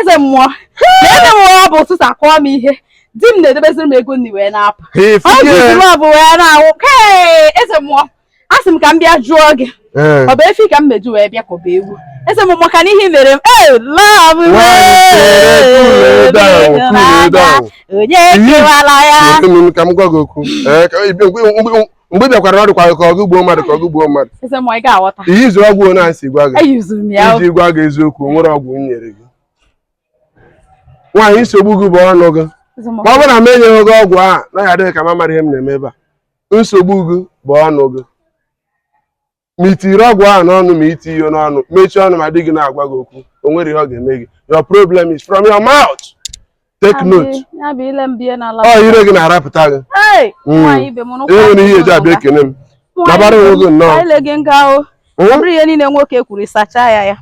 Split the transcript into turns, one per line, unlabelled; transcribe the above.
eze mmụọ na eze mmụọ ọ bụ ụtụtụ akụọ m ihe di m na-edebeziri m ego nri wee na-apụ ọ jụzi love wee na-awụ kee eze mmụọ a sị m ka m bịa jụọ gị ọ bụ efi ka m ga-eji wee bịa ka ọ bụ ewu eze m maka na ihe mere m ee love onye kewala ya ka m gwa gị okwu
mgbe ị bịakwara ọ dịkwa ka ọgụ gbuo mmadụ ka ọgụ gbuo
mmadụ ihe izu ọgwụ na
nsi gwa gị iji gwa gị
eziokwu o nwere
ọgwụ m nyere gị nwaanyị nsogbu gị bụ ọnụ gị ma ọ bụrụ na m enyeghị gị ọgwụ a na ọ ga-adị gị ka m amaghị ihe m na-eme ebe a nsogbu gị bụ ọnụ gị ma i tiri ọgwụ ahụ n'ọnụ ma i ti ihe n'ọnụ mechie ọnụ ma di gị na-agwa gị okwu o nwere ihe ọ ga-eme gị your problem is from your mouth take note ọ ire gị na-arapụta gị hmm. e nwere ihe e ji abịa ekene m nabara
onwe
gị nnọọ
hmm? ihe
niile
nwoke
kwuru
sachaa
ya ya